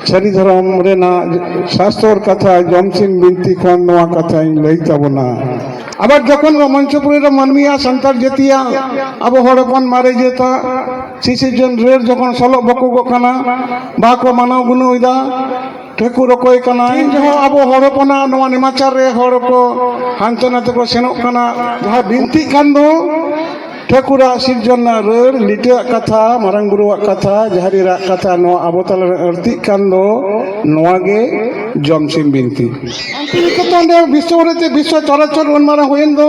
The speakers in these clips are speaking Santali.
ᱥᱟᱹᱨᱤ ᱫᱷᱚᱨᱚᱢ ᱨᱮᱱᱟᱜ ᱥᱟᱥᱛᱚᱨ ᱠᱟᱛᱷᱟ ᱡᱚᱢᱥᱤᱱ ᱵᱤᱱᱛᱤ ᱠᱷᱚᱱ ᱱᱚᱣᱟ ᱠᱟᱛᱷᱟᱧ ᱞᱟᱹᱭ ᱛᱟᱵᱚᱱᱟ ᱟᱵᱟᱨ ᱡᱚᱠᱷᱚᱱ ᱢᱚᱧᱪᱚᱯᱩᱨᱤ ᱨᱮ ᱢᱟᱹᱱᱢᱤᱭᱟᱜ ᱥᱟᱱᱛᱟᱲ ᱡᱟᱹᱛᱤᱭᱟᱜ ᱟᱵᱚ ᱦᱚᱲ ᱦᱚᱯᱚᱱ ᱢᱟᱨᱮ ᱡᱟᱹᱛᱟᱜ ᱥᱤᱥᱤᱨ ᱡᱚᱱ ᱨᱮᱲ ᱡᱚᱠᱷᱚᱱ ᱥᱚᱞᱚᱜ ᱵᱚᱠᱚᱜᱚᱜ ᱠᱟᱱᱟ ᱵᱟᱦᱟ ᱠᱚ ᱢᱟᱱᱟᱣ ᱜᱩᱱᱟᱹᱣᱮᱫᱟ ᱴᱷᱟᱹᱠᱩᱨ ᱚᱠᱚᱭ ᱠᱟᱱᱟ ᱤᱧ ᱡᱚᱦᱚᱸ ᱟᱵᱚ ᱦᱚᱲ ᱦᱚᱯᱚᱱᱟᱜ ᱱᱚᱣᱟ ᱱᱮᱢᱟᱪᱟᱨ ᱨᱮ ᱦᱚᱲ ᱠᱚ ᱦᱟᱱᱛᱮ ᱱᱟᱛᱮ ᱠᱚ ᱥᱮᱱᱚᱜ ᱠᱟᱱᱟ ᱡᱟᱦᱟᱸ ᱵᱤᱱᱛᱤᱜ ᱠᱟᱱ ᱫᱚ ᱴᱷᱟᱹᱠᱩᱨᱟᱜ ᱥᱤᱨᱡᱚᱱ ᱨᱮᱱᱟᱜ ᱨᱟᱹᱲ ᱞᱤᱴᱟᱹᱣᱟᱜ ᱠᱟᱛᱷᱟ ᱢᱟᱨᱟᱝ ᱵᱩᱨᱩᱣᱟᱜ ᱠᱟᱛᱷᱟ ᱡᱟᱦᱮᱨ ᱮᱨᱟᱜ ᱠᱟᱛᱷᱟ ᱱᱚᱣᱟ ᱟᱵᱚ ᱛᱟᱞᱟᱨᱮ ᱟᱹᱲᱛᱤᱜ ᱠᱟᱱ ᱫᱚ ᱱᱚᱣᱟ ᱜᱮ ᱡᱚᱢᱥᱤᱢ ᱵᱤᱱᱛᱤ ᱥᱟᱱᱛᱤᱱᱤᱠᱮᱛᱚᱱ ᱨᱮ ᱵᱤᱥᱥᱚ ᱵᱷᱟᱨᱚᱛᱤ ᱵᱤᱥᱥᱚ ᱪᱚᱨᱟᱪᱚᱨ ᱩᱱ ᱢᱟᱨᱟᱝ ᱦᱩᱭᱮᱱ ᱫᱚ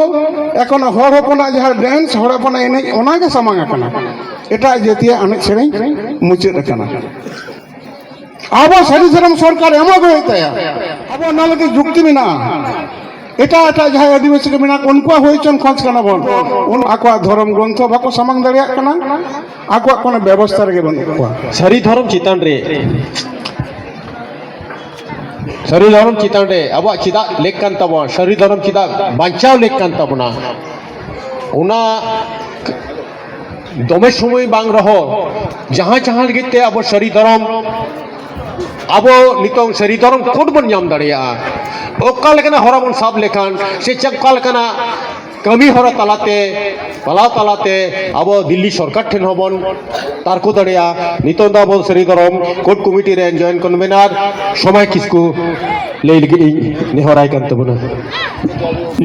ᱮᱠᱷᱚᱱ ᱦᱚᱲ ᱦᱚᱯᱚᱱᱟᱜ ᱡᱟᱦᱟᱸ ᱰᱮᱱᱥ ᱦᱚᱲ ᱦᱚᱯᱚᱱᱟᱜ ᱮᱱᱮᱡ ᱚᱱᱟᱜᱮ ᱥᱟᱢᱟᱝ ᱟᱠᱟᱱᱟ ᱮᱴᱟᱜ ᱡᱟᱹᱛᱤᱭᱟᱜ ᱮᱱᱮᱡ ᱥᱮᱨᱮᱧ ᱢᱩᱪᱟᱹᱫ ᱟᱠᱟᱱᱟ ᱟᱵᱚ ᱥᱟᱹᱨᱤ ᱥᱟᱨᱟᱢ ᱥᱚᱨᱠᱟᱨ ᱮᱢᱚᱜ ᱜᱮ ᱦᱩᱭᱩᱜ ᱛᱟᱭᱟ ᱟᱵᱚ ᱚᱱᱟ ᱞᱟᱹᱜᱤᱫ ᱡᱩᱠᱛᱤ ᱢᱮᱱᱟᱜᱼᱟ ᱮᱴᱟᱜ ᱮᱴᱟᱜ ᱡᱟᱦᱟᱸᱭ ᱟᱹᱫᱤᱵᱟᱹᱥᱤ ᱠᱚ ᱢᱮᱱᱟᱜ ᱠᱚ ᱩᱱᱠᱩᱣᱟᱜ ᱦᱩᱭ ᱦᱚᱪᱚᱱ ᱠᱷᱚᱡᱽ ᱠᱟᱱᱟ ᱵᱚᱱ ᱩᱱ ᱟᱠᱚᱣᱟᱜ ᱫᱷᱚᱨᱚᱢ ᱜᱨᱚᱱᱛᱷᱚ ᱵᱟᱠᱚ ᱥᱟᱢᱟᱝ ᱫᱟᱲᱮᱭᱟᱜ ᱠᱟᱱᱟ ᱟᱠᱚᱣᱟᱜ ᱠᱳᱱᱳ ᱵᱮᱵᱚᱥᱛᱷᱟ ᱨᱮᱜᱮ ᱵᱟᱹᱱᱩᱜ ᱠᱚᱣᱟ ᱥᱟᱹᱨᱤ ᱫᱷᱚᱨᱚᱢ ᱪᱮᱛᱟᱱ ᱨᱮ ᱥᱟᱹᱨᱤ ᱫᱷᱚᱨᱚᱢ ᱪᱮᱛᱟᱱ ᱨᱮ ᱟᱵᱚᱣᱟᱜ ᱪᱮᱫᱟᱜ ᱞᱮᱠ ᱠᱟᱱ ᱛᱟᱵᱚᱱᱟ ᱥᱟᱹᱨᱤ ᱫᱷᱚᱨᱚᱢ ᱪᱮᱫᱟᱜ ᱵᱟᱧᱪᱟᱣ ᱞᱮᱠ ᱠᱟᱱ ᱛᱟᱵᱚᱱᱟ ᱚᱱᱟ ᱫᱚᱢᱮ ᱥᱚᱢᱚᱭ ᱵᱟᱝ ᱨᱮᱦᱚᱸ ᱡᱟᱦᱟᱸ ᱡᱟᱦᱟᱸ ᱞᱟᱹᱜᱤᱫ ᱛᱮ ᱟᱵᱚ ᱥᱟᱹᱨᱤ ᱫᱷᱚᱨᱚᱢ ᱟᱵᱚ ᱱᱤᱛᱚᱝ ᱥᱟᱹᱨᱤ ᱫᱷᱚᱨᱚᱢ ᱠᱳᱰ ᱵᱚᱱ ᱧᱟᱢ ᱫᱟᱲᱮᱭᱟᱜᱼᱟ ᱚᱠᱟ ᱞᱮᱠᱟᱱᱟᱜ ᱦᱚᱨᱟ ᱵᱚᱱ ᱥᱟᱵ ᱞᱮᱠᱷᱟᱱ ᱥᱮ ᱪᱮᱫ ᱚᱠᱟ ᱞᱮᱠᱟᱱᱟᱜ ᱠᱟᱹᱢᱤ ᱦᱚᱨᱟ ᱛᱟᱞᱟᱛᱮ ᱯᱟᱞᱟᱣ ᱛᱟᱞᱟᱛᱮ ᱟᱵᱚ ᱫᱤᱞᱞᱤ ᱥᱚᱨᱠᱟᱨ ᱴᱷᱮᱱ ᱦᱚᱸᱵᱚᱱ ᱛᱟᱨᱠᱚ ᱫᱟᱲᱮᱭᱟᱜᱼᱟ ᱱᱤᱛᱚᱝ ᱫᱚ ᱟᱵᱚ ᱥᱟᱹᱨᱤ ᱫᱷᱚᱨᱚᱢ ᱠᱳᱰ ᱠᱚᱢᱤᱴᱤ ᱨᱮᱱ ᱡᱚᱭᱮᱱᱴ ᱠᱚᱱᱵᱷᱮᱱᱟᱨ ᱥᱚᱢᱟᱭ ᱠᱤᱥᱠᱩ ᱞᱟᱹᱭ ᱞᱟᱹᱜᱤᱫ ᱤᱧ ᱱᱮᱦᱚᱨᱟᱭ ᱠᱟᱱ ᱛᱟᱵᱚᱱᱟ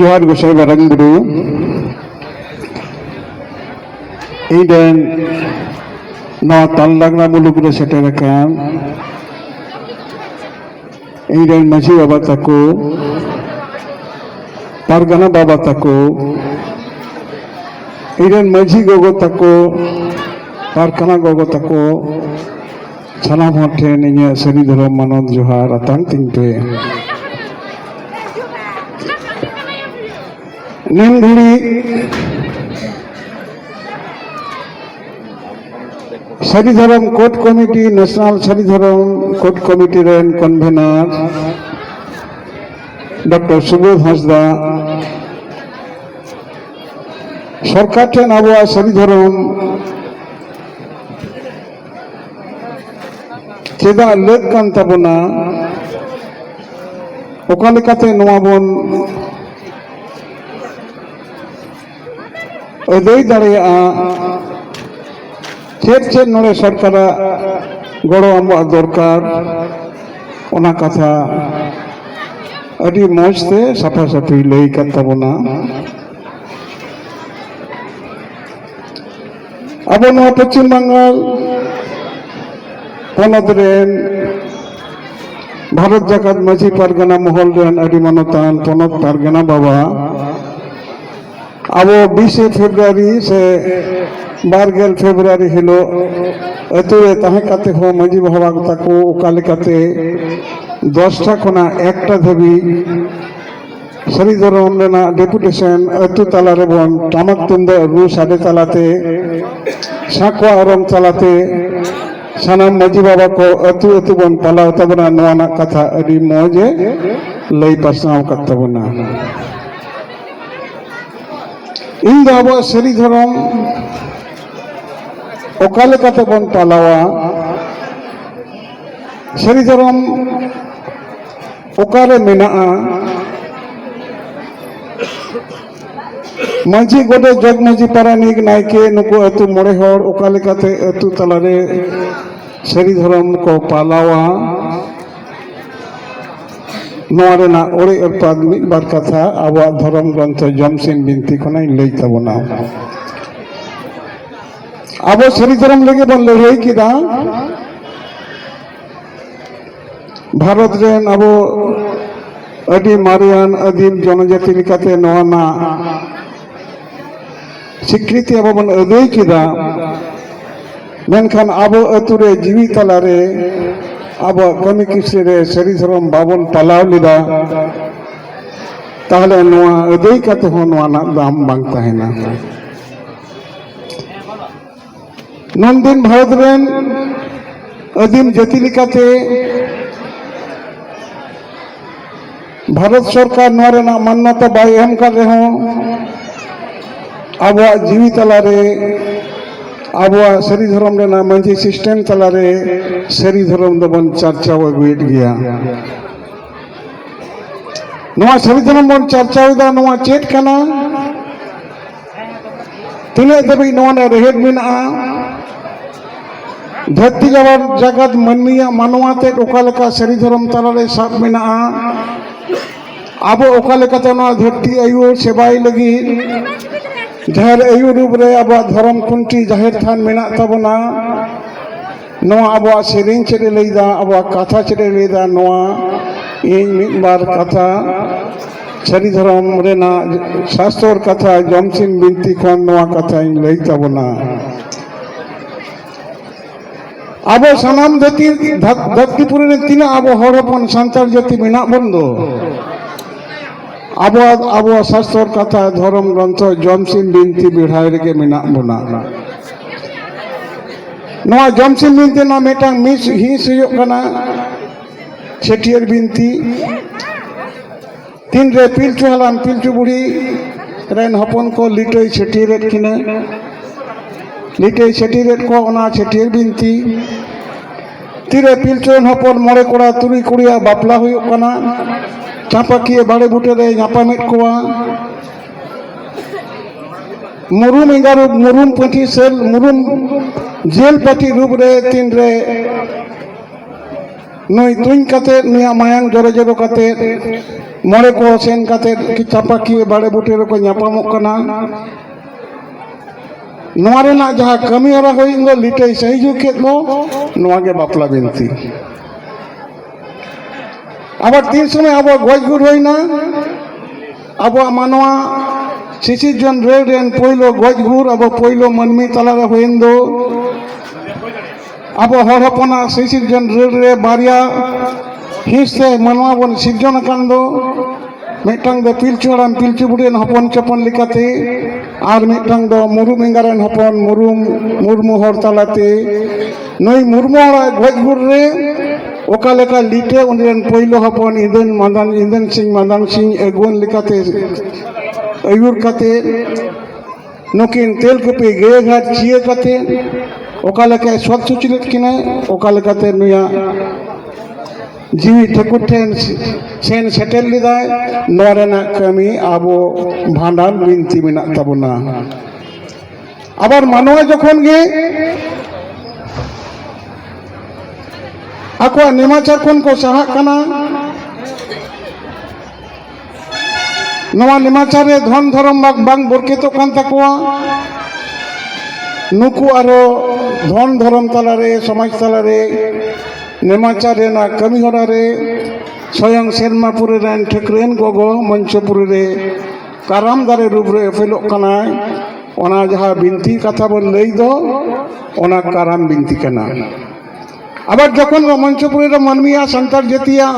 ᱡᱚᱦᱟᱨ ᱜᱚᱥᱟᱭ ᱢᱟᱨᱟᱝ ᱵᱩᱨᱩ ᱤᱧ ᱨᱮᱱ ᱱᱚᱣᱟ ᱛᱟᱞᱞᱟᱜᱽᱱᱟ ᱢᱩᱞᱩᱠ ᱨᱮ ᱥᱮᱴᱮᱨ ᱟᱠᱟᱱ ᱤᱧ ᱨᱮᱱ ᱢᱟᱺᱡᱷᱤ ᱵᱟᱵᱟ ᱛᱟᱠᱚ ᱯᱟᱨᱜᱟᱱᱟ ᱵᱟᱵᱟ ᱛᱟᱠᱚ ᱤᱧ ᱨᱮᱱ ᱢᱟᱺᱡᱷᱤ ᱜᱚᱜᱚ ᱛᱟᱠᱚ ᱯᱟᱨᱜᱟᱱᱟ ᱜᱚᱜᱚ ᱛᱟᱠᱚ ᱥᱟᱱᱟᱢ ᱦᱚᱲ ᱴᱷᱮᱱ ᱤᱧᱟᱹᱜ ᱥᱟᱹᱨᱤ ᱫᱷᱚᱨᱚᱢ ᱢᱟᱱᱚᱛ ᱡᱚᱦᱟᱨ ᱟᱛᱟᱝ ᱛᱤᱧ ᱯᱮ Nandini Sari Dharam code committee national Sari Dharam code committee ᱨᱮᱱ ᱠᱚᱱᱵᱷᱮᱱᱟᱨ ᱰᱚᱠᱴᱚᱨ ᱥᱩᱵᱳᱫᱷ ᱦᱟᱸᱥᱫᱟ ᱥᱚᱨᱠᱟᱨ ᱴᱷᱮᱱ ᱟᱵᱚᱣᱟᱜ ᱥᱟᱹᱨᱤ ᱫᱷᱚᱨᱚᱢ ᱪᱮᱫᱟᱜ ᱞᱟᱹᱠ ᱠᱟᱱ ᱛᱟᱵᱚᱱᱟ ᱚᱠᱟ ᱞᱮᱠᱟᱛᱮ ᱱᱚᱣᱟ ᱵᱚᱱ ᱟᱹᱫᱟᱹᱭ ᱫᱟᱲᱮᱭᱟᱜᱼᱟ ᱪᱮᱫ ᱪᱮᱫ ᱱᱚᱰᱮ ᱥᱚᱨᱠᱟᱨᱟᱜ ᱜᱚᱲᱚ ᱟᱵᱚᱣᱟᱜ ᱫᱚᱨᱠᱟᱨ ᱚᱱᱟ ᱠᱟᱛᱷᱟ ᱟᱹᱰᱤ ᱢᱚᱡᱽ ᱛᱮ ᱥᱟᱯᱷᱟ ᱥᱟᱹᱯᱷᱤ ᱞᱟᱹᱭ ᱠᱟᱱ ᱛᱟᱵᱚᱱᱟ ᱟᱵᱚ ᱱᱚᱣᱟ ᱯᱚᱪᱷᱤᱢ ᱵᱟᱝᱜᱟᱞ ᱯᱚᱱᱚᱛ ᱨᱮᱱ ᱵᱷᱟᱨᱚᱛ ᱡᱟᱠᱟᱛ ᱢᱟᱹᱡᱷᱤ ᱯᱟᱨᱜᱟᱱᱟ ᱢᱚᱦᱚᱞ ᱨᱮᱱ ᱟᱹᱰᱤ ᱢᱟᱱᱚᱛᱟᱱ ᱯᱚᱱᱚᱛ ᱯᱟᱨᱜᱟᱱᱟ ᱵᱟᱵᱟ ᱟᱵᱚ ᱵᱤᱥᱮ ᱯᱷᱮᱵᱨᱩᱣᱟᱨᱤ ᱥᱮ ᱵᱟᱨᱜᱮᱞ ᱯᱷᱮᱵᱨᱩᱣᱟᱨᱤ ᱦᱤᱞᱳᱜ ᱟᱹᱛᱩ ᱨᱮ ᱛᱟᱦᱮᱸ ᱠᱟᱛᱮ ᱦᱚᱸ ᱢᱟᱹᱡᱷᱤ ᱵᱟᱵᱟ ᱛᱟᱠᱚ ᱚᱠᱟ ᱞᱮᱠᱟᱛᱮ ᱫᱚᱥᱴᱟ ᱠᱷᱚᱱᱟᱜ ᱮᱠᱴᱟ ᱫᱷᱟᱹᱵᱤᱡ ᱥᱟᱹᱨᱤ ᱫᱷᱚᱨᱚᱢ ᱨᱮᱱᱟᱜ ᱰᱮᱯᱩᱴᱮᱥᱚᱱ ᱟᱹᱛᱩ ᱛᱟᱞᱟ ᱨᱮᱵᱚᱱ ᱴᱟᱢᱟᱠ ᱛᱩᱢᱫᱟᱜ ᱨᱩ ᱥᱟᱰᱮ ᱛᱟᱞᱟᱛᱮ ᱥᱟᱸᱠᱣᱟ ᱚᱨᱚᱝ ᱛᱟᱞᱟᱛᱮ ᱥᱟᱱᱟᱢ ᱢᱟᱹᱡᱷᱤ ᱵᱟᱵᱟ ᱠᱚ ᱟᱹᱛᱩ ᱟᱹᱛᱩ ᱵᱚᱱ ᱯᱟᱞᱟᱣ ᱛᱟᱵᱚᱱᱟ ᱱᱚᱣᱟ ᱨᱮᱱᱟᱜ ᱠᱟᱛᱷᱟ ᱟᱹᱰᱤ ᱢᱚᱡᱽ ᱮ ᱞᱟᱹᱭ ᱯᱟᱥᱱᱟᱣ ᱟᱠᱟᱫ ᱛᱟᱵᱚᱱᱟ ᱤᱧ ᱫᱚ ᱟᱵᱚᱣᱟᱜ ᱥᱟᱹᱨᱤ ᱫᱷᱚᱨᱚᱢ ᱚᱠᱟ ᱞᱮᱠᱟᱛᱮ ᱵᱚᱱ ᱯᱟᱞᱟᱣᱟ ᱥᱟᱹᱨᱤ ᱫᱷᱚᱨᱚᱢ ᱚᱠᱟᱨᱮ ᱢᱮᱱᱟᱜᱼᱟ ᱢᱟᱹᱡᱷᱤ ᱜᱚᱰᱮᱛ ᱡᱚᱜᱽ ᱢᱟᱹᱡᱷᱤ ᱯᱟᱨᱟᱱᱤᱠ ᱱᱟᱭᱠᱮ ᱱᱩᱠᱩ ᱟᱹᱛᱩ ᱢᱚᱬᱮ ᱦᱚᱲ ᱚᱠᱟ ᱞᱮᱠᱟᱛᱮ ᱟᱹᱛᱩ ᱛᱟᱞᱟᱨᱮ ᱥᱟᱹᱨᱤ ᱫᱷᱚᱨᱚᱢ ᱠᱚ ᱯᱟᱞᱟᱣᱟ ᱱᱚᱣᱟ ᱨᱮᱱᱟᱜ ᱚᱲᱮ ᱚᱨᱯᱟᱛ ᱢᱤᱫ ᱵᱟᱨ ᱠᱟᱛᱷᱟ ᱟᱵᱚᱣᱟᱜ ᱫᱷᱚᱨᱚᱢ ᱜᱨᱚᱱᱛᱷᱚ ᱡᱚᱢᱥᱤᱱ ᱵᱤᱱᱛᱤ ᱠᱷᱚᱱᱟᱧ ᱞᱟᱹᱭ ᱛᱟᱵᱚᱱᱟ ᱟᱵᱚ ᱥᱟᱹᱨᱤ ᱫᱷᱚᱨᱚᱢ ᱞᱟᱹᱜᱤᱫ ᱵᱚᱱ ᱞᱟᱹᱲᱦᱟᱹᱭ ᱠᱮᱫᱟ ᱵᱷᱟᱨᱚᱛ ᱨᱮᱱ ᱟᱵᱚ ᱟᱹᱰᱤ ᱢᱟᱨᱮᱭᱟᱱ ᱟᱹᱫᱤᱢ ᱡᱚᱱᱚᱡᱟᱹᱛᱤ ᱞᱮᱠᱟᱛᱮ ᱱᱚᱣᱟ ᱨᱮᱱᱟᱜ ᱥᱤᱠᱨᱤᱛᱤ ᱟᱵᱚ ᱵᱚᱱ ᱟᱹᱫᱟᱹᱭ ᱠᱮᱫᱟ ᱢᱮᱱᱠᱷᱟᱱ ᱟᱵᱚ ᱟᱹᱛᱩ ᱨᱮ ᱡᱤᱣᱤ ᱛᱟᱞᱟᱨᱮ ᱟᱵᱚᱣᱟᱜ ᱠᱟᱹᱢᱤ ᱠᱤᱥᱟᱹ ᱨᱮ ᱥᱟᱹᱨᱤ ᱫᱷᱚᱨᱚᱢ ᱵᱟᱵᱚᱱ ᱯᱟᱞᱟᱣ ᱞᱮᱫᱟ ᱛᱟᱦᱚᱞᱮ ᱱᱚᱣᱟ ᱟᱹᱫᱟᱹᱭ ᱠᱟᱛᱮ ᱦᱚᱸ ᱱᱚᱣᱟ ᱨᱮᱱᱟᱜ ᱫᱟᱢ ᱵᱟᱝ ᱛᱟᱦᱮᱱᱟ ᱱᱚᱱᱫᱤᱱ ᱵᱷᱟᱨᱚᱛ ᱨᱮᱱ ᱟᱹᱫᱤᱢ ᱡᱟᱹᱛᱤ ᱞᱮᱠᱟᱛᱮ ᱵᱷᱟᱨᱚᱛ ᱥᱚᱨᱠᱟᱨ ᱱᱚᱣᱟ ᱨᱮᱱᱟᱜ ᱢᱟᱱᱱᱚᱛᱟ ᱵᱟᱭ ᱮᱢ ᱠᱟᱫ ᱨᱮᱦᱚᱸ ᱟᱵᱚᱣᱟᱜ ᱡᱤᱣᱤ ᱛᱟᱞᱟᱨᱮ ᱟᱵᱚᱣᱟᱜ ᱥᱟᱹᱨᱤ ᱫᱷᱚᱨᱚᱢ ᱨᱮᱱᱟᱜ ᱢᱟᱹᱡᱷᱤ ᱥᱤᱥᱴᱮᱢ ᱛᱟᱞᱟᱨᱮ ᱥᱟᱹᱨᱤ ᱫᱷᱚᱨᱚᱢ ᱫᱚᱵᱚᱱ ᱪᱟᱨᱪᱟᱣ ᱟᱹᱜᱩᱭᱮᱫ ᱜᱮᱭᱟ ᱱᱚᱣᱟ ᱥᱟᱹᱨᱤ ᱫᱷᱚᱨᱚᱢ ᱵᱚᱱ ᱪᱟᱨᱪᱟᱣᱮᱫᱟ ᱱᱚᱣᱟ ᱪᱮᱫ ᱠᱟᱱᱟ ᱛᱤᱱᱟᱹᱜ ᱫᱷᱟᱹᱵᱤᱡ ᱱᱚᱣᱟ ᱨᱮ ᱨᱮᱦᱮᱫ ᱢᱮᱱᱟᱜᱼᱟ ᱫᱷᱟᱹᱨᱛᱤ ᱡᱟᱵᱟᱨ ᱡᱟᱜᱟᱛ ᱢᱟᱹᱱᱢᱤᱭᱟᱜ ᱢᱟᱱᱣᱟ ᱛᱮᱫ ᱚᱠᱟ ᱞᱮᱠᱟ ᱥᱟᱹᱨᱤ ᱫᱷᱚᱨᱚᱢ ᱛᱟᱞᱟᱨᱮ ᱥᱟᱵ ᱢᱮᱱᱟᱜᱼᱟ ᱟᱵᱚ ᱚᱠᱟ ᱞᱮᱠᱟᱛᱮ ᱱᱚᱣᱟ ᱫᱷᱟᱹᱨᱛᱤ ᱟᱭᱳ ᱥᱮᱵᱟᱭ ᱞᱟᱹᱜᱤᱫ ᱡᱟᱦᱮᱨ ᱟᱭᱳ ᱨᱩᱯ ᱨᱮ ᱟᱵᱚᱣᱟᱜ ᱫᱷᱚᱨᱚᱢ ᱠᱷᱩᱱᱴᱤ ᱡᱟᱦᱮᱨ ᱛᱷᱟᱱ ᱢᱮᱱᱟᱜ ᱛᱟᱵᱚᱱᱟ ᱱᱚᱣᱟ ᱟᱵᱚᱣᱟᱜ ᱥᱮᱨᱮᱧ ᱪᱮᱫ ᱮ ᱞᱟᱹᱭᱫᱟ ᱟᱵᱚᱣᱟᱜ ᱠᱟᱛᱷᱟ ᱪᱮᱫ ᱮ ᱞᱟᱹᱭᱫᱟ ᱱᱚᱣᱟ ᱤᱧ ᱢᱤᱫ ᱵᱟᱨ ᱠᱟᱛᱷᱟ ᱥᱟᱹᱨᱤ ᱫᱷᱚᱨᱚᱢ ᱨᱮᱱᱟᱜ ᱥᱟᱥᱛᱚᱨ ᱠᱟᱛᱷᱟ ᱡᱚᱢᱥᱤᱢ ᱵᱤᱱᱛᱤ ᱠᱷᱚᱱ ᱱᱚᱣᱟ ᱠᱟᱛᱷᱟᱧ ᱞᱟᱹᱭ ᱛᱟᱵᱚᱱᱟ ᱟᱵᱚ ᱥᱟᱱᱟᱢ ᱡᱟᱹᱛᱤ ᱫᱷᱟᱹᱨᱛᱤᱯᱩᱨᱤ ᱨᱮ ᱛᱤᱱᱟᱹᱜ ᱟᱵᱚ ᱦᱚᱲ ᱦᱚᱯᱚᱱ ᱥᱟᱱᱛᱟᱲ ᱡᱟᱹᱛᱤ ᱢᱮᱱᱟᱜ ᱵᱚᱱ ᱫᱚ ᱟᱵᱚᱣᱟᱜ ᱟᱵᱚᱣᱟᱜ ᱥᱟᱥᱛᱚᱨ ᱠᱟᱛᱷᱟ ᱫᱷᱚᱨᱚᱢ ᱜᱨᱚᱱᱛᱷᱚ ᱡᱚᱢᱥᱤᱢ ᱵᱤᱱᱛᱤ ᱵᱮᱲᱦᱟᱭ ᱨᱮᱜᱮ ᱢᱮᱱᱟᱜ ᱵᱚᱱᱟ ᱱᱚᱣᱟ ᱡᱚᱢᱥᱤᱢ ᱵᱤᱱᱛᱤ ᱨᱮᱱᱟᱜ ᱢᱤᱫᱴᱟᱝ ᱢᱤᱥ ᱦᱤᱸᱥ ᱦᱩᱭᱩᱜ ᱠᱟᱱᱟ ᱪᱷᱟᱹᱴᱭᱟᱹᱨ ᱵᱤᱱᱛᱤ ᱛᱤᱱᱨᱮ ᱯᱤᱞᱪᱩ ᱦᱟᱲᱟᱢ ᱯᱤᱞᱪᱩ ᱵᱩᱲᱦᱤ ᱨᱮᱱ ᱦᱚᱯᱚᱱ ᱠᱚ ᱞᱤᱴᱟᱹᱭ ᱪᱷᱟᱹᱴᱭᱟᱹᱨᱮᱫ ᱠᱤᱱᱟᱹ ᱞᱤᱴᱟᱹᱭ ᱪᱷᱟᱹᱴᱭᱟᱹᱨᱮᱫ ᱠᱚ ᱚᱱᱟ ᱪᱷᱟᱹᱴᱭᱟᱹᱨ ᱵᱤᱱᱛᱤ ᱛᱤᱨᱮ ᱯᱤᱞᱪᱩ ᱨᱮᱱ ᱦᱚᱯᱚᱱ ᱢᱚᱬᱮ ᱠᱚᱲᱟ ᱛᱩᱨᱩᱭ ᱠᱩᱲᱤᱭᱟᱜ ᱵᱟᱯᱞᱟ ᱦᱩᱭᱩᱜ ᱠᱟᱱᱟ ᱪᱟᱸᱯᱟᱠᱤᱭᱟᱹ ᱵᱟᱲᱮ ᱵᱩᱴᱟᱹ ᱨᱮ ᱧᱟᱯᱟᱢᱮᱫ ᱠᱚᱣᱟ ᱢᱩᱨᱩᱢ ᱮᱸᱜᱟ ᱨᱩᱯ ᱢᱩᱨᱩᱢ ᱯᱟᱹᱴᱷᱤ ᱥᱮᱞ ᱢᱩᱨᱩᱢ ᱡᱮᱞ ᱯᱟᱹᱴᱷᱤ ᱨᱩᱯ ᱨᱮ ᱛᱤᱱ ᱨᱮ ᱱᱩᱭ ᱛᱩᱧ ᱠᱟᱛᱮ ᱱᱩᱭᱟᱜ ᱢᱟᱭᱟᱝ ᱡᱚᱨᱚ ᱡᱚᱨᱚ ᱠᱟᱛᱮ ᱢᱚᱬᱮ ᱠᱚ ᱥᱮᱱ ᱠᱟᱛᱮ ᱪᱟᱯᱟᱠᱤᱭᱟᱹ ᱵᱟᱲᱮ ᱵᱩᱴᱟᱹ ᱨᱮᱠᱚ ᱧᱟᱯᱟᱢᱚᱜ ᱠᱟᱱᱟ ᱱᱚᱣᱟ ᱨᱮᱱᱟᱜ ᱡᱟᱦᱟᱸ ᱠᱟᱹᱢᱤ ᱦᱚᱨᱟ ᱦᱩᱭ ᱫᱚ ᱞᱤᱴᱟᱹᱭ ᱥᱟᱹᱦᱤᱡᱩᱜ ᱠᱮᱫ ᱫᱚ ᱱᱚᱣᱟ ᱜᱮ ᱵᱟᱯᱞᱟ ᱵᱤᱱᱛᱤ ᱟᱵᱟᱨ ᱛᱤᱱ ᱥᱚᱢᱚᱭ ᱟᱵᱚ ᱜᱚᱡ ᱜᱩᱨ ᱦᱩᱭᱱᱟ ᱟᱵᱚᱣᱟᱜ ᱢᱟᱱᱣᱟ ᱥᱤᱥᱤᱨ ᱡᱚᱱ ᱨᱮᱞ ᱨᱮᱱ ᱯᱳᱭᱞᱳ ᱜᱚᱡ ᱜᱩᱨ ᱟᱵᱚ ᱯᱳᱭᱞᱳ ᱢᱟᱹᱱᱢᱤ ᱛᱟᱞᱟᱨᱮ ᱦᱩᱭᱮᱱ ᱫᱚ ᱟᱵᱚ ᱦᱚᱲ ᱦᱚᱯᱚᱱᱟᱜ ᱥᱤᱥᱤᱨ ᱡᱚᱱ ᱨᱮᱞ ᱨᱮ ᱵᱟᱨᱭᱟ ᱦᱤᱸᱥ ᱛᱮ ᱢᱟᱱᱣᱟ ᱵᱚᱱ ᱥᱤᱨᱡᱚᱱ ᱟᱠᱟᱱ ᱫᱚ ᱢᱤᱫᱴᱟᱝ ᱫᱚ ᱯᱤᱞᱪᱩ ᱦᱟᱲᱟᱢ ᱯᱤᱞᱪᱩ ᱵᱩᱰᱷᱤ ᱨᱮᱱ ᱦᱚᱯᱚᱱ ᱪᱚᱯᱚᱱ ᱞᱮᱠᱟᱛᱮ ᱟᱨ ᱢᱤᱫᱴᱟᱝ ᱫᱚ ᱢᱩᱨᱢᱩ ᱮᱸᱜᱟ ᱨᱮᱱ ᱦᱚᱯᱚᱱ ᱢᱩᱨᱢᱩ ᱢᱩᱨᱢᱩ ᱦᱚᱲ ᱛᱟᱞᱟᱛᱮ ᱱᱩᱭ ᱢᱩᱨᱢᱩ ᱦᱚᱲᱟᱜ ᱜᱚᱡ ᱜᱩᱨ ᱨᱮ ᱚᱠᱟ ᱞᱮᱠᱟ ᱞᱤᱴᱟᱹ ᱩᱱᱤ ᱨᱮᱱ ᱯᱳᱭᱞᱳ ᱦᱚᱯᱚᱱ ᱤᱸᱫᱟᱹᱱ ᱢᱟᱫᱟᱱ ᱤᱸᱫᱟᱹᱱ ᱥᱤᱝ ᱢᱟᱫᱟᱱ ᱥᱤᱝ ᱟᱹᱜᱩᱣᱟᱹᱱ ᱞᱮᱠᱟᱛᱮ ᱟᱹᱭᱩᱨ ᱠᱟᱛᱮ ᱱᱩᱠᱤᱱ ᱛᱮᱞᱠᱩᱯᱤ ᱜᱟᱹᱭ ᱜᱷᱟᱴ ᱪᱤᱭᱟᱹ ᱠᱟᱛᱮ ᱚᱠᱟ ᱞᱮᱠᱟᱭ ᱥᱚᱛ ᱥᱩᱪᱨᱤᱛ ᱠᱤᱱᱟᱹ ᱚᱠᱟ ᱞᱮᱠᱟᱛᱮ ᱱᱩᱭᱟᱜ ᱡᱤᱣᱤ ᱴᱷᱟᱹᱠᱩᱨ ᱴᱷᱮᱱ ᱥᱮᱱ ᱥᱮᱴᱮᱨ ᱞᱮᱫᱟᱭ ᱱᱚᱣᱟ ᱨᱮᱱᱟᱜ ᱠᱟᱹᱢᱤ ᱟᱵᱚ ᱵᱷᱟᱸᱰᱟᱱ ᱵᱤᱱᱛᱤ ᱢᱮᱱᱟᱜ ᱛᱟᱵᱚᱱᱟ ᱟᱵᱟᱨ ᱢᱟᱱᱣᱟ ᱡᱚᱠᱷᱚᱱ ᱜᱮ ᱟᱠᱚᱣᱟᱜ ᱱᱮᱢᱟᱪᱟᱨ ᱠᱷᱚᱱ ᱠᱚ ᱥᱟᱦᱟᱜ ᱠᱟᱱᱟ ᱱᱚᱣᱟ ᱱᱮᱢᱟᱪᱟᱨ ᱨᱮ ᱫᱷᱚᱱ ᱫᱷᱚᱨᱚᱢ ᱵᱟᱝ ᱵᱚᱨᱠᱮᱛᱚᱜ ᱠᱟᱱ ᱛᱟᱠᱚᱣᱟ ᱱᱩᱠᱩ ᱟᱨᱚ ᱫᱷᱚᱱ ᱫᱷᱚᱨᱚᱢ ᱛᱟᱞᱟᱨᱮ ᱥᱚᱢᱟᱡᱽ ᱛᱟᱞᱟᱨᱮ ᱱᱮᱢᱟᱪᱟᱨ ᱨᱮᱱᱟᱜ ᱠᱟᱹᱢᱤ ᱦᱚᱨᱟ ᱨᱮ ᱥᱚᱭᱚᱝ ᱥᱮᱨᱢᱟᱯᱩᱨᱤ ᱨᱮᱱ ᱴᱷᱟᱹᱠᱨᱮᱱ ᱜᱚᱜᱚ ᱢᱚᱧᱪᱚᱯᱩᱨᱤ ᱨᱮ ᱠᱟᱨᱟᱢ ᱫᱟᱨᱮ ᱨᱩᱯ ᱨᱮ ᱮᱯᱮᱞᱚᱜ ᱠᱟᱱᱟᱭ ᱚᱱᱟ ᱡᱟᱦᱟᱸ ᱵᱤᱱᱛᱤ ᱠᱟᱛᱷᱟ ᱵᱚᱱ ᱞᱟᱹᱭ ᱫᱚ ᱚᱱᱟ ᱠᱟᱨᱟᱢ ᱵᱤᱱᱛᱤ ᱠᱟᱱᱟ ᱟᱵᱟᱨ ᱡᱚᱠᱷᱚᱱ ᱢᱚᱧᱪᱚᱯᱩᱨᱤ ᱨᱮ ᱢᱟᱹᱱᱢᱤᱭᱟᱜ ᱥᱟᱱᱛᱟᱲ ᱡᱟᱹᱛᱤᱭᱟᱜ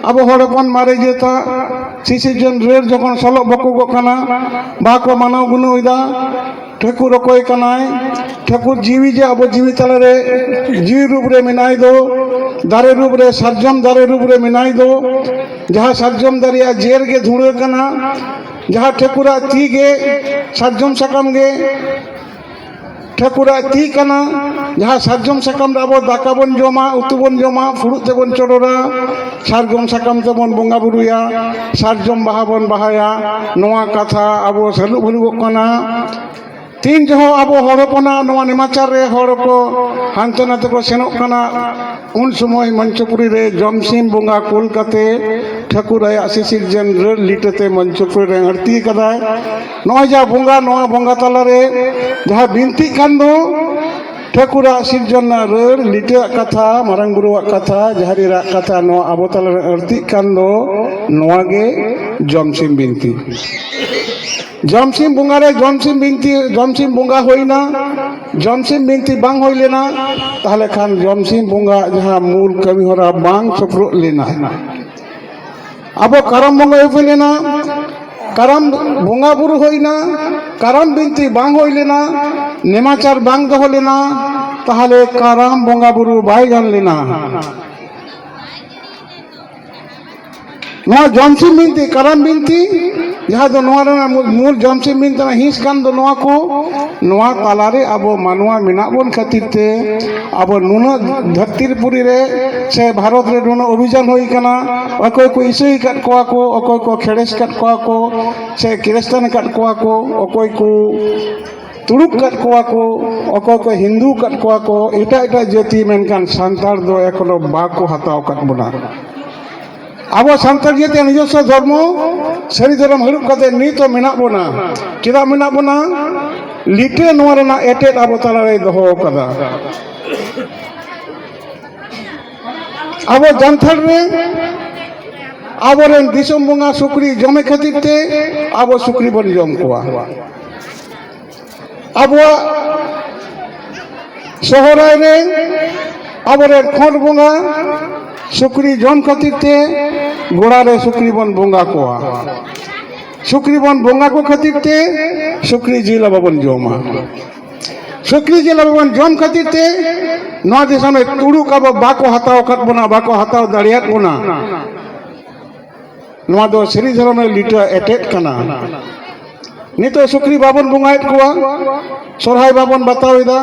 ᱟᱵᱚ ᱦᱚᱲ ᱦᱚᱯᱚᱱ ᱢᱟᱨᱮ ᱡᱟᱹᱛᱟᱜ ᱥᱤᱥᱤᱡᱚᱱ ᱨᱮ ᱡᱚᱠᱷᱚᱱ ᱥᱚᱞᱚᱜ ᱵᱚᱠᱚᱜᱚᱜ ᱠᱟᱱᱟ ᱵᱟᱦᱟ ᱠᱚ ᱢᱟᱱᱟᱣ ᱜᱩᱱᱟᱹᱣᱮᱫᱟ ᱴᱷᱟᱹᱠᱩᱨ ᱚᱠᱚᱭ ᱠᱟᱱᱟᱭ ᱴᱷᱟᱹᱠᱩᱨ ᱡᱤᱣᱤ ᱡᱮ ᱟᱵᱚ ᱡᱤᱣᱤ ᱛᱟᱞᱟᱨᱮ ᱡᱤᱣᱤ ᱨᱩᱯ ᱨᱮ ᱢᱮᱱᱟᱭ ᱫᱚ ᱫᱟᱨᱮ ᱨᱩᱯ ᱨᱮ ᱥᱟᱨᱡᱚᱢ ᱫᱟᱨᱮ ᱨᱩᱯ ᱨᱮ ᱢᱮᱱᱟᱭ ᱫᱚ ᱡᱟᱦᱟᱸ ᱥᱟᱨᱡᱚᱢ ᱫᱟᱨᱮᱭᱟᱜ ᱡᱮᱨ ᱜᱮ ᱫᱷᱩᱲᱟᱹ ᱠᱟᱱᱟ ᱡᱟᱦᱟᱸ ᱴᱷᱟᱹᱠᱩᱨᱟᱜ ᱛᱤ ᱜᱮ ᱥᱟᱨᱡᱚᱢ ᱥᱟᱠᱟᱢ ᱜᱮ ᱴᱷᱟᱹᱠᱩᱨᱟᱜ ᱛᱤ ᱠᱟᱱᱟ ᱡᱟᱦᱟᱸ ᱥᱟᱨᱡᱚᱢ ᱥᱟᱠᱟᱢ ᱨᱮ ᱟᱵᱚ ᱫᱟᱠᱟ ᱵᱚᱱ ᱡᱚᱢᱟ ᱩᱛᱩ ᱵᱚᱱ ᱡᱚᱢᱟ ᱯᱷᱩᱲᱩᱜ ᱛᱮᱵᱚᱱ ᱪᱚᱰᱚᱨᱟ ᱥᱟᱨᱡᱚᱢ ᱥᱟᱠᱟᱢ ᱛᱮᱵᱚᱱ ᱵᱚᱸᱜᱟ ᱵᱩᱨᱩᱭᱟ ᱥᱟᱨᱡᱚᱢ ᱵᱟᱦᱟ ᱵᱚᱱ ᱵᱟᱦᱟᱭᱟ ᱱᱚᱣᱟ ᱠᱟᱛᱷᱟ ᱟᱵᱚ ᱥᱟᱹᱞᱩ ᱵᱷᱟᱹᱞᱩᱜᱚᱜ ᱠᱟᱱᱟ ᱛᱤᱱ ᱡᱚᱦᱚᱜ ᱟᱵᱚ ᱦᱚᱲ ᱦᱚᱯᱚᱱᱟᱜ ᱱᱚᱣᱟ ᱱᱮᱢᱟᱪᱟᱨ ᱨᱮ ᱦᱚᱲ ᱠᱚ ᱦᱟᱱᱛᱮ ᱱᱟᱛᱮ ᱠᱚ ᱥᱮᱱᱚᱜ ᱠᱟᱱᱟ ᱩᱱ ᱥᱚᱢᱚᱭ ᱢᱚᱧᱪᱚᱯᱩᱨᱤ ᱨᱮ ᱡᱚᱢᱥᱤᱢ ᱵᱚᱸᱜᱟ ᱠᱩᱞ ᱠᱟᱛᱮ ᱴᱷᱟᱹᱠᱩᱨ ᱟᱭᱟᱜ ᱥᱤᱥᱤᱨ ᱡᱮᱱ ᱨᱟᱹᱲ ᱞᱤᱴᱟᱹᱛᱮ ᱢᱚᱧᱪᱚᱯᱩᱨᱤ ᱨᱮ ᱟᱹᱲᱛᱤ ᱠᱟᱫᱟᱭ ᱱᱚᱜᱼᱚᱭ ᱡᱟ ᱵᱚᱸᱜᱟ ᱱᱚᱣᱟ ᱵᱚᱸᱜᱟ ᱛᱟᱞᱟᱨᱮ ᱡᱟᱦᱟᱸ ᱵᱤᱱᱛᱤᱜ ᱠᱟᱱ ᱫᱚ ᱴᱷᱟᱹᱠᱩᱨᱟᱜ ᱥᱤᱨᱡᱚᱱ ᱨᱮᱱᱟᱜ ᱨᱟᱹᱲ ᱞᱤᱴᱟᱹᱣᱟᱜ ᱠᱟᱛᱷᱟ ᱢᱟᱨᱟᱝ ᱵᱩᱨᱩᱣᱟᱜ ᱠᱟᱛᱷᱟ ᱡᱟᱦᱮᱨ ᱮᱨᱟᱜ ᱠᱟᱛᱷᱟ ᱱᱚᱣᱟ ᱟᱵᱚ ᱛᱟᱞᱟᱨᱮ ᱟᱹᱲᱛᱤᱜ ᱠᱟᱱ ᱫᱚ ᱱᱚᱣᱟ ᱜᱮ ᱡᱚᱢᱥᱤᱢ ᱵᱤᱱᱛᱤ ᱡᱚᱢᱥᱤᱢ ᱵᱚᱸᱜᱟ ᱨᱮ ᱡᱚᱢᱥᱤᱢ ᱵᱤᱱᱛᱤ ᱡᱚᱢᱥᱤᱢ ᱵᱚᱸᱜᱟ ᱦᱩᱭᱱᱟ ᱡᱚᱢᱥᱤᱢ ᱵᱤᱱᱛᱤ ᱵᱟᱝ ᱦᱩᱭ ᱞᱮᱱᱟ ᱛᱟᱦᱚᱞᱮ ᱠᱷᱟᱱ ᱡᱚᱢᱥᱤᱢ ᱵᱚᱸᱜᱟ ᱡᱟᱦᱟᱸ ᱢᱩᱞ ᱠᱟᱹᱢᱤ ᱦᱚᱨᱟ ᱵᱟᱝ ᱥᱩᱯᱨᱩᱜ ᱞᱮᱱᱟ ᱟᱵᱚ ᱠᱟᱨᱟᱢ ᱵᱚᱸᱜᱟ ᱦᱩᱭ ᱞᱮᱱᱟ ᱠᱟᱨᱟᱢ ᱵᱚᱸᱜᱟ ᱵᱩᱨᱩ ᱦᱩᱭᱱᱟ ᱠᱟᱨᱟᱢ ᱵᱤᱱᱛᱤ ᱵᱟᱝ ᱦᱩᱭ ᱞᱮᱱᱟ ᱱᱮᱢᱟᱪᱟᱨ ᱵᱟᱝ ᱫᱚᱦᱚ ᱞᱮᱱᱟ ᱛᱟᱦᱚᱞᱮ ᱠᱟᱨᱟᱢ ᱵᱚᱸᱜᱟ ᱵᱩᱨᱩ ᱵᱟᱭ ᱜᱟᱱ ᱞᱮᱱᱟ ᱱᱚᱣᱟ ᱡᱚᱢᱥᱤᱢ ᱵᱤᱱᱛᱤ ᱠᱟᱨᱟᱢ ᱵᱤᱱᱛᱤ ᱡᱟᱦᱟᱸ ᱫᱚ ᱱᱚᱣᱟ ᱨᱮᱱᱟᱜ ᱢᱩᱞ ᱡᱚᱢᱥᱤᱢ ᱵᱤᱱᱛᱤ ᱨᱮᱱᱟᱜ ᱦᱤᱸᱥ ᱠᱟᱱ ᱫᱚ ᱱᱚᱣᱟ ᱠᱚ ᱱᱚᱣᱟ ᱛᱟᱞᱟᱨᱮ ᱟᱵᱚ ᱢᱟᱱᱣᱟ ᱢᱮᱱᱟᱜ ᱵᱚᱱ ᱠᱷᱟᱹᱛᱤᱨ ᱛᱮ ᱟᱵᱚ ᱱᱩᱱᱟᱹᱜ ᱫᱷᱟᱹᱨᱛᱤ ᱯᱩᱨᱤ ᱨᱮ ᱥᱮ ᱵᱷᱟᱨᱚᱛ ᱨᱮ ᱱᱩᱱᱟᱹᱜ ᱚᱵᱷᱤᱡᱟᱱ ᱦᱩᱭ ᱠᱟᱱᱟ ᱚᱠᱚᱭ ᱠᱚ ᱤᱥᱟᱹᱭ ᱟᱠᱟᱫ ᱠᱚᱣᱟ ᱠᱚ ᱚᱠᱚᱭ ᱠᱚ ᱠᱷᱮᱲᱮᱥ ᱟᱠᱟᱫ ᱠᱚᱣᱟ ᱠᱚ ᱥᱮ ᱠᱨᱤᱥᱪᱟᱱ ᱟᱠᱟᱫ ᱠᱚᱣᱟ ᱠᱚ ᱚᱠᱚᱭ ᱠᱚ ᱛᱩᱲᱩᱠ ᱠᱟᱫ ᱠᱚᱣᱟ ᱠᱚ ᱚᱠᱚᱭ ᱠᱚ ᱦᱤᱱᱫᱩ ᱠᱟᱫ ᱠᱚᱣᱟ ᱠᱚ ᱮᱴᱟᱜ ᱮᱴᱟᱜ ᱡᱟᱹᱛᱤ ᱢᱮᱱᱠᱷᱟᱱ ᱥᱟᱱᱛᱟᱲ ᱫᱚ ᱮᱠᱷᱚᱱᱚ ᱵᱟᱠᱚ ᱦᱟᱛᱟᱣ ᱠᱟᱫ ᱵᱚᱱᱟ ᱟᱵᱚ ᱥᱟᱱᱛᱟᱲ ᱡᱟᱹᱛᱤᱭᱟᱜ ᱱᱤᱡᱚᱥᱥᱚ ᱫᱷᱚᱨᱢᱚ ᱥᱟᱹᱨᱤ ᱫᱷᱚᱨᱚᱢ ᱦᱟᱹᱨᱩᱵ ᱠᱟᱛᱮ ᱱᱤᱛ ᱦᱚᱸ ᱢᱮᱱᱟᱜ ᱵᱚᱱᱟ ᱪᱮᱫᱟᱜ ᱢᱮᱱᱟᱜ ᱵᱚᱱᱟ ᱞᱤᱴᱟᱹ ᱱᱚᱣᱟ ᱨᱮᱱᱟᱜ ᱮᱴᱮᱫ ᱟᱵᱚ ᱛᱟᱞᱟᱨᱮ ᱫᱚᱦᱚ ᱠᱟᱫᱟ ᱟᱵᱚ ᱡᱟᱱᱛᱷᱟᱲ ᱨᱮ ᱟᱵᱚᱨᱮᱱ ᱫᱤᱥᱚᱢ ᱵᱚᱸᱜᱟ ᱥᱩᱠᱨᱤ ᱡᱚᱢᱮ ᱠᱷᱟᱹᱛᱤᱨ ᱛᱮ ᱟᱵᱚ ᱥᱩᱠᱨᱤ ᱵᱚᱱ ᱡᱚᱢ ᱠᱚᱣᱟ ᱟᱵᱚᱣᱟᱜ ᱥᱚᱦᱚᱨᱟᱭ ᱨᱮ ᱟᱵᱚᱨᱮᱱ ᱠᱷᱚᱸᱰ ᱵᱚᱸᱜᱟ ᱥᱩᱠᱨᱤ ᱡᱚᱢ ᱠᱷᱟᱹᱛᱤᱨ ᱛᱮ ᱜᱚᱲᱟ ᱨᱮ ᱥᱩᱠᱨᱤ ᱵᱚᱱ ᱵᱚᱸᱜᱟ ᱠᱚᱣᱟ ᱥᱩᱠᱨᱤ ᱵᱚᱱ ᱵᱚᱸᱜᱟ ᱠᱚ ᱠᱷᱟᱹᱛᱤᱨ ᱛᱮ ᱥᱩᱠᱨᱤ ᱡᱤᱞ ᱟᱵᱚ ᱵᱚᱱ ᱡᱚᱢᱟ ᱥᱩᱠᱨᱤ ᱡᱤᱞ ᱟᱵᱚ ᱵᱚᱱ ᱡᱚᱢ ᱠᱷᱟᱹᱛᱤᱨ ᱛᱮ ᱱᱚᱣᱟ ᱫᱤᱥᱚᱢ ᱨᱮ ᱛᱩᱲᱩᱠ ᱟᱵᱚ ᱵᱟᱠᱚ ᱦᱟᱛᱟᱣ ᱟᱠᱟᱫ ᱵᱚᱱᱟ ᱵᱟᱠᱚ ᱦᱟᱛᱟᱣ ᱫᱟᱲᱮᱭᱟᱫ ᱵᱚᱱᱟ ᱱᱚᱣᱟ ᱫᱚ ᱥᱟᱹᱨᱤ ᱫᱷᱚᱨᱚᱢ ᱨᱮ ᱞᱤᱴᱟᱹ ᱮᱴᱮᱫ ᱠᱟᱱᱟ ᱱᱤᱛᱚᱜ ᱥᱩᱠᱨᱤ ᱵᱟᱵᱚᱱ ᱵᱚᱸᱜᱟᱭᱮᱫ ᱠᱚᱣᱟ ᱥᱚᱨᱦᱟᱭ ᱵᱟᱵᱚᱱ ᱵᱟᱛᱟᱣᱮᱫᱟ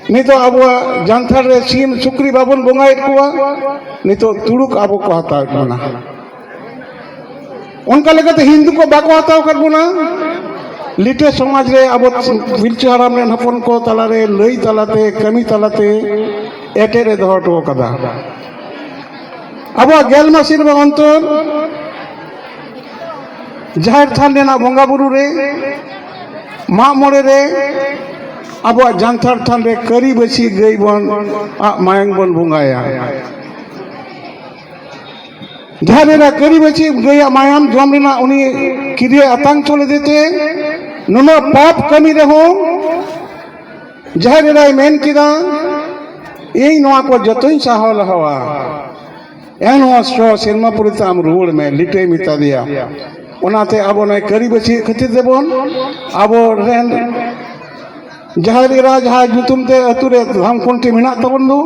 ᱱᱤᱛᱚᱜ ᱟᱵᱚᱣᱟᱜ ᱡᱟᱱᱛᱷᱟᱲ ᱨᱮ ᱥᱤᱢ ᱥᱩᱠᱨᱤ ᱵᱟᱵᱚᱱ ᱵᱚᱸᱜᱟᱭᱮᱫ ᱠᱚᱣᱟ ᱱᱤᱛᱚᱜ ᱛᱩᱲᱩᱠ ᱟᱵᱚ ᱠᱚ ᱦᱟᱛᱟᱣᱮᱫ ᱵᱚᱱᱟ ᱚᱱᱠᱟ ᱞᱮᱠᱟᱛᱮ ᱦᱤᱱᱫᱩ ᱠᱚ ᱵᱟᱠᱚ ᱦᱟᱛᱟᱣ ᱟᱠᱟᱫ ᱵᱚᱱᱟ ᱞᱤᱴᱟᱹ ᱥᱚᱢᱟᱡᱽ ᱨᱮ ᱟᱵᱚ ᱯᱤᱞᱪᱩ ᱦᱟᱲᱟᱢ ᱨᱮᱱ ᱦᱚᱯᱚᱱ ᱠᱚ ᱛᱟᱞᱟᱨᱮ ᱞᱟᱹᱭ ᱛᱟᱞᱟᱛᱮ ᱠᱟᱹᱢᱤ ᱛᱟᱞᱟᱛᱮ ᱮᱴᱮᱫ ᱮ ᱫᱚᱦᱚ ᱦᱚᱴᱚ ᱟᱠᱟᱫᱟ ᱟᱵᱚᱣᱟᱜ ᱜᱮᱞ ᱢᱟᱹᱥᱤ ᱨᱮ ᱚᱱᱛᱚᱨ ᱡᱟᱦᱮᱨ ᱛᱷᱟᱱ ᱨᱮᱱᱟᱜ ᱵᱚᱸᱜᱟ ᱵᱩᱨᱩ ᱨᱮ ᱢᱟᱜ ᱢᱚᱬᱮ ᱨᱮ ᱟᱵᱚᱣᱟᱜ ᱡᱟᱱᱛᱷᱟᱲ ᱛᱷᱟᱱ ᱨᱮ ᱠᱟᱹᱨᱤ ᱵᱟᱹᱥᱤ ᱜᱟᱹᱭ ᱵᱚᱱ ᱟᱜ ᱢᱟᱭᱟᱝ ᱵᱚᱱ ᱵᱚᱸᱜᱟᱭᱟ ᱡᱟᱦᱟᱸ ᱨᱮᱱᱟ ᱠᱟᱹᱨᱤ ᱵᱟᱹᱪᱤ ᱜᱟᱹᱭᱟᱜ ᱢᱟᱭᱟᱢ ᱡᱚᱢ ᱨᱮᱱᱟᱜ ᱩᱱᱤ ᱠᱤᱨᱤᱭᱟᱹ ᱟᱛᱟᱝ ᱪᱚ ᱞᱮᱫᱮ ᱛᱮ ᱱᱩᱱᱟᱹᱜ ᱯᱟᱯ ᱠᱟᱹᱢᱤ ᱨᱮᱦᱚᱸ ᱡᱟᱦᱟᱸ ᱨᱮᱱᱟᱭ ᱢᱮᱱ ᱠᱮᱫᱟ ᱤᱧ ᱱᱚᱣᱟ ᱠᱚ ᱡᱚᱛᱚᱧ ᱥᱟᱦᱟᱣ ᱞᱟᱦᱟᱣᱟ ᱮᱱ ᱱᱚᱣᱟ ᱥᱚ ᱥᱮᱨᱢᱟ ᱯᱚᱨᱮ ᱛᱮ ᱟᱢ ᱨᱩᱣᱟᱹᱲ ᱢᱮ ᱞᱤᱴᱟᱹᱭ ᱢᱮᱛᱟ ᱫᱮᱭᱟ ᱚᱱᱟᱛᱮ ᱟᱵᱚ ᱱᱚᱜᱼᱚᱭ ᱠᱟᱹᱨᱤ ᱵᱟᱹᱪᱤ ᱠᱷᱟᱹᱛᱤᱨ ᱛᱮᱵᱚᱱ ᱟᱵᱚ ᱨᱮᱱ ᱡᱟᱦᱮᱨ ᱮᱨᱟ ᱡᱟᱦᱟᱸ ᱧᱩᱛᱩᱢ ᱛᱮ ᱟᱹᱛᱩ ᱨᱮ ᱫᱷᱟᱢ ᱠᱷᱩᱱᱴᱤ ᱢᱮᱱᱟᱜ ᱛᱟᱵᱚᱱ ᱫᱚ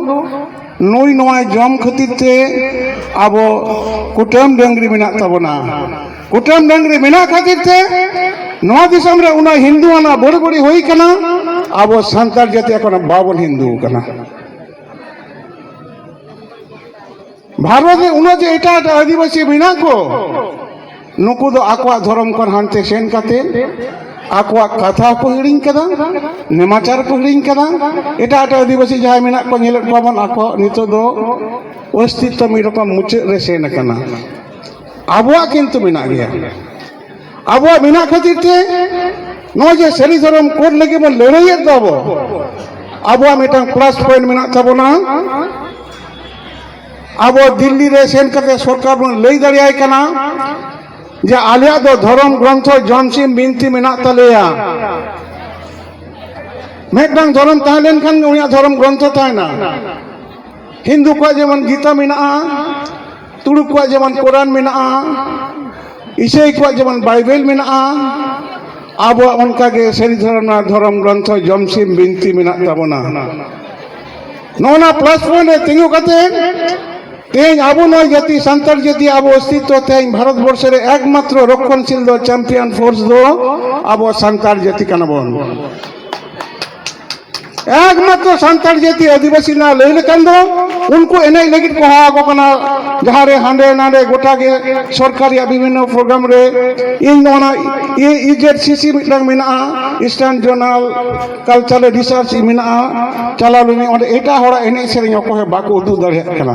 ᱱᱩᱭ ᱱᱚᱣᱟ ᱡᱚᱢ ᱠᱷᱟᱹᱛᱤᱨ ᱛᱮ ᱟᱵᱚ ᱠᱩᱴᱟᱹᱢ ᱰᱟᱹᱝᱨᱤ ᱢᱮᱱᱟᱜ ᱛᱟᱵᱚᱱᱟ ᱠᱩᱴᱟᱹᱢ ᱰᱟᱹᱝᱨᱤ ᱢᱮᱱᱟᱜ ᱠᱷᱟᱹᱛᱤᱨ ᱛᱮ ᱱᱚᱣᱟ ᱫᱤᱥᱚᱢ ᱨᱮ ᱩᱱᱟᱹᱜ ᱦᱤᱱᱫᱩ ᱟᱱᱟ ᱵᱟᱹᱲᱤ ᱵᱟᱹᱲᱤ ᱦᱩᱭ ᱠᱟᱱᱟ ᱟᱵᱚ ᱥᱟᱱᱛᱟᱲ ᱡᱟᱹᱛᱤ ᱮᱠᱷᱚᱱ ᱵᱟᱵᱚᱱ ᱦᱤᱱᱫᱩ ᱠᱟᱱᱟ ᱵᱷᱟᱨᱚᱛ ᱨᱮ ᱩᱱᱟᱹᱜ ᱡᱮ ᱮᱴᱟᱜ ᱮᱴᱟᱜ ᱟᱹᱫᱤᱵᱟᱹᱥᱤ ᱢᱮᱱᱟᱜ ᱠᱚ ᱱᱩᱠᱩ ᱫᱚ ᱟᱠᱚᱣᱟᱜ ᱫᱷᱚᱨᱚᱢ ᱠᱷᱚᱱ ᱦᱟᱱᱛᱮ ᱥᱮᱱ ᱠᱟᱛᱮ ᱟᱠᱚᱣᱟᱜ ᱠᱟᱛᱷᱟ ᱠᱚ ᱦᱤᱲᱤᱧ ᱠᱟᱫᱟ ᱱᱮᱢᱟᱪᱟᱨ ᱠᱚ ᱦᱤᱲᱤᱧ ᱠᱟᱫᱟ ᱮᱴᱟᱜ ᱮᱴᱟᱜ ᱟᱹᱫᱤᱵᱟᱹᱥᱤ ᱡᱟᱦᱟᱸᱭ ᱢᱮᱱᱟᱜ ᱠᱚ ᱧᱮᱞᱮᱫ ᱠᱚᱣᱟ ᱵᱚᱱ ᱟᱠᱚ ᱱᱤᱛᱚᱜ ᱫᱚ ᱚᱥᱛᱤᱛᱛᱚ ᱢᱤᱫ ᱨᱚᱠᱚᱢ ᱢᱩᱪᱟᱹᱫ ᱨᱮ ᱥᱮᱱ ᱟᱠᱟᱱᱟ ᱟᱵᱚᱣᱟᱜ ᱠᱤᱱᱛᱩ ᱢᱮᱱᱟᱜ ᱜᱮᱭᱟ ᱟᱵᱚᱣᱟᱜ ᱢᱮᱱᱟᱜ ᱠᱷᱟᱹᱛᱤᱨ ᱛᱮ ᱱᱚᱜᱼᱚᱭ ᱡᱮ ᱥᱟᱹᱨᱤ ᱫᱷᱚᱨᱚᱢ ᱠᱳᱰ ᱞᱟᱹᱜᱤᱫ ᱵᱚᱱ ᱞᱟᱹᱲᱦᱟᱹᱭᱮᱫ ᱫᱚ ᱟᱵᱚ ᱟᱵᱚᱣᱟᱜ ᱢᱤᱫᱴᱟᱝ ᱯᱞᱟᱥ ᱯᱚᱭᱮᱱᱴ ᱢᱮᱱᱟᱜ ᱛᱟᱵᱚᱱᱟ ᱟᱵᱚ ᱫᱤᱞᱞᱤ ᱨᱮ ᱥᱮᱱ ᱠᱟᱛᱮ ᱥᱚᱨᱠᱟᱨ ᱵᱚᱱ ᱞᱟᱹᱭ ᱫᱟᱲᱮᱭᱟᱭ ᱠᱟᱱᱟ ᱡᱮ ᱟᱞᱮᱭᱟᱜ ᱫᱚ ᱫᱷᱚᱨᱚᱢ ᱜᱨᱚᱱᱛᱷᱚ ᱡᱚᱢᱥᱤᱢ ᱵᱤᱱᱛᱤ ᱢᱮᱱᱟᱜ ᱛᱟᱞᱮᱭᱟ ᱢᱤᱫᱴᱟᱝ ᱫᱷᱚᱨᱚᱢ ᱛᱟᱦᱮᱸ ᱞᱮᱱᱠᱷᱟᱱ ᱜᱮ ᱩᱱᱤᱭᱟᱜ ᱫᱷᱚᱨᱚᱢ ᱜᱨᱚᱱᱛᱷᱚ ᱛᱟᱦᱮᱱᱟ ᱦᱤᱱᱫᱩ ᱠᱚᱣᱟᱜ ᱡᱮᱢᱚᱱ ᱜᱤᱛᱟ ᱢᱮᱱᱟᱜᱼᱟ ᱛᱩᱲᱩᱠ ᱠᱚᱣᱟᱜ ᱡᱮᱢᱚᱱ ᱠᱳᱨᱟᱱ ᱢᱮᱱᱟᱜᱼᱟ ᱤᱥᱟᱹᱭ ᱠᱚᱣᱟᱜ ᱡᱮᱢᱚᱱ ᱵᱟᱭᱵᱮᱞ ᱢᱮᱱᱟᱜᱼᱟ ᱟᱵᱚᱣᱟᱜ ᱚᱱᱠᱟᱜᱮ ᱥᱟᱹᱨᱤ ᱫᱷᱚᱨᱚᱢ ᱨᱮᱱᱟᱜ ᱫᱷᱚᱨᱚᱢ ᱜᱨᱚᱱᱛᱷᱚ ᱡᱚᱢᱥᱤᱢ ᱵᱤᱱᱛᱤ ᱢᱮᱱᱟᱜ ᱛᱟᱵᱚᱱᱟ ᱱᱚᱜᱼᱚ ᱱᱟ ᱯᱞᱟᱥ ᱯᱚᱭᱮᱱᱴ ᱨᱮ ᱛᱤᱸᱜᱩ ᱠᱟᱛᱮ ᱛᱮᱦᱮᱧ ᱟᱵᱚ ᱱᱚᱣᱟ ᱡᱟᱹᱛᱤ ᱥᱟᱱᱛᱟᱲ ᱡᱟᱹᱛᱤ ᱟᱵᱚ ᱚᱥᱛᱤᱛᱣ ᱛᱮᱦᱮᱧ ᱵᱷᱟᱨᱚᱛ ᱵᱚᱨᱥᱚ ᱨᱮ ᱮᱠᱢᱟᱛᱨᱚ ᱨᱚᱠᱠᱷᱚᱱᱥᱤᱞ ᱫᱚ ᱪᱟᱢᱯᱤᱭᱟᱱ ᱯᱷᱳᱨᱥ ᱫᱚ ᱟᱵᱚ ᱥᱟᱱᱛᱟᱲ ᱡᱟᱹᱛᱤ ᱠᱟᱱᱟ ᱵᱚᱱ ᱮᱠᱢᱟᱛᱨᱚ ᱥᱟᱱᱛᱟᱲ ᱡᱟᱹᱛᱤ ᱟᱹᱫᱤᱵᱟᱹᱥᱤ ᱨᱮᱱᱟᱜ ᱞᱟᱹᱭ ᱞᱮᱠᱷᱟᱱ ᱫᱚ ᱩᱱᱠᱩ ᱮᱱᱮᱡ ᱞᱟᱹᱜᱤᱫ ᱠᱚ ᱦᱚᱦᱚ ᱟᱠᱚ ᱠᱟᱱᱟ ᱡᱟᱦᱟᱸ ᱨᱮ ᱦᱟᱸᱰᱮ ᱱᱟᱰᱮ ᱜᱚᱴᱟ ᱜᱮ ᱥᱚᱨᱠᱟᱨ ᱨᱮᱭᱟᱜ ᱵᱤᱵᱷᱤᱱᱱᱚ ᱯᱨᱳᱜᱨᱟᱢ ᱨᱮ ᱤᱧ ᱱᱚᱣᱟ ᱤᱡᱮᱰ ᱥᱤᱥᱤ ᱢᱤᱫᱴᱟᱝ ᱢᱮᱱᱟᱜᱼᱟ ᱤᱥᱴᱟᱨᱱ ᱡᱚᱨᱱᱟᱞ ᱠᱟᱞᱪᱟᱨᱟᱞ ᱨᱤᱥᱟᱨᱪ ᱢᱮᱱᱟᱜᱼᱟ ᱪᱟᱞᱟᱣ ᱞᱮᱱᱟᱹᱧ ᱚᱸᱰᱮ ᱮᱴᱟᱜ ᱦᱚᱲᱟᱜ ᱮᱱᱮᱡ ᱥᱮᱨᱮᱧ ᱚᱠᱚᱭ ᱦᱚᱸ ᱵᱟᱠᱚ ᱩᱫᱩᱜ ᱫᱟᱲᱮᱭᱟᱜ ᱠᱟᱱᱟ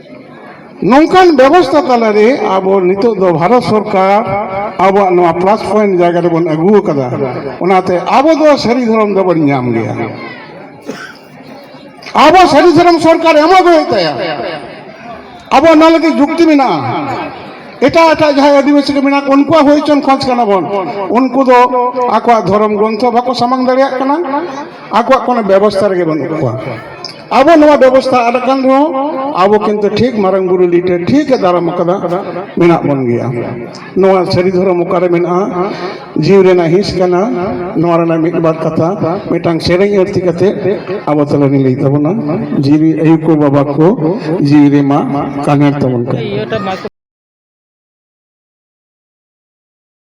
ᱱᱚᱝᱠᱟᱱ ᱵᱮᱵᱚᱥᱛᱷᱟ ᱛᱟᱞᱟᱨᱮ ᱟᱵᱚ ᱱᱤᱛᱚᱜ ᱫᱚ ᱵᱷᱟᱨᱚᱛ ᱥᱚᱨᱠᱟᱨ ᱟᱵᱚᱣᱟᱜ ᱱᱚᱣᱟ ᱯᱞᱟᱥ ᱯᱚᱭᱮᱱᱴ ᱡᱟᱭᱜᱟ ᱨᱮᱵᱚᱱ ᱟᱹᱜᱩ ᱟᱠᱟᱫᱟ ᱚᱱᱟᱛᱮ ᱟᱵᱚ ᱫᱚ ᱥᱟᱹᱨᱤ ᱫᱷᱚᱨᱚᱢ ᱫᱚᱵᱚᱱ ᱧᱟᱢ ᱜᱮᱭᱟ ᱟᱵᱚ ᱥᱟᱹᱨᱤ ᱫᱷᱚᱨᱚᱢ ᱥᱚᱨᱠᱟᱨ ᱮᱢᱚᱜ ᱦᱩᱭᱩᱜ ᱛᱟᱭᱟ ᱟᱵᱚ ᱚᱱᱟ ᱞᱟᱹᱜᱤᱫ ᱡᱩᱠᱛᱤ ᱢᱮᱱᱟᱜᱼᱟ ᱮᱴᱟᱜ ᱮᱴᱟᱜ ᱡᱟᱦᱟᱸᱭ ᱟᱹᱫᱤᱵᱟᱹᱥᱤ ᱠᱚ ᱢᱮᱱᱟᱜ ᱩᱱᱠᱩᱣᱟᱜ ᱦᱩᱭ ᱦᱚᱪᱚᱱ ᱠᱷᱚᱡᱽ ᱠᱟᱱᱟ ᱵᱚᱱ ᱩᱱᱠᱩ ᱫᱚ ᱟᱠᱚᱣᱟᱜ ᱫᱷᱚᱨᱚᱢ ᱜᱨᱚᱱᱛᱷᱚ ᱵᱟᱠᱚ ᱥᱟᱢᱟᱝ ᱫᱟᱲᱮᱭᱟᱜ ᱠᱟᱱᱟ ᱟᱠᱚᱣᱟᱜ ᱠᱳᱱᱳ ᱵᱮᱵᱚᱥᱛᱷᱟ ᱨᱮᱜᱮ ᱵᱟᱹᱱᱩᱜ ᱠᱚᱣᱟ ᱟᱵᱚ ᱱᱚᱣᱟ ᱵᱮᱵᱚᱥᱛᱷᱟ ᱟᱫ ᱟᱠᱟᱱ ᱨᱮᱦᱚᱸ ᱟᱵᱚ ᱠᱤᱱᱛᱩ ᱴᱷᱤᱠ ᱢᱟᱨᱟᱝ ᱵᱩᱨᱩ ᱞᱤᱴᱮ ᱴᱷᱤᱠ ᱮ ᱫᱟᱨᱟᱢ ᱟᱠᱟᱫᱟ ᱢᱮᱱᱟᱜ ᱵᱚᱱ ᱜᱮᱭᱟ ᱱᱚᱣᱟ ᱥᱟᱹᱨᱤ ᱫᱷᱚᱨᱚᱢ ᱚᱠᱟᱨᱮ ᱢᱮᱱᱟᱜᱼᱟ ᱡᱤᱣᱤ ᱨᱮᱱᱟᱜ ᱦᱤᱸᱥ ᱠᱟᱱᱟ ᱱᱚᱣᱟ ᱨᱮᱱᱟᱜ ᱢᱤᱫ ᱵᱟᱨ ᱠᱟᱛᱷᱟ ᱢᱤᱫᱴᱟᱝ ᱥᱮᱨᱮᱧ ᱟᱹᱨᱛᱤ ᱠᱟᱛᱮ ᱟᱵᱚ ᱛᱟᱞᱟᱨᱮ ᱞᱟᱹᱭ ᱛᱟᱵᱚᱱᱟ ᱡᱤᱣᱤ ᱟᱭᱩ ᱠᱚ ᱵᱟᱵᱟ ᱠᱚ ᱡᱤᱣᱤ ᱨᱮᱢᱟ ᱠᱟᱱᱮᱨ ᱛᱟᱵᱚᱱ ᱠᱚ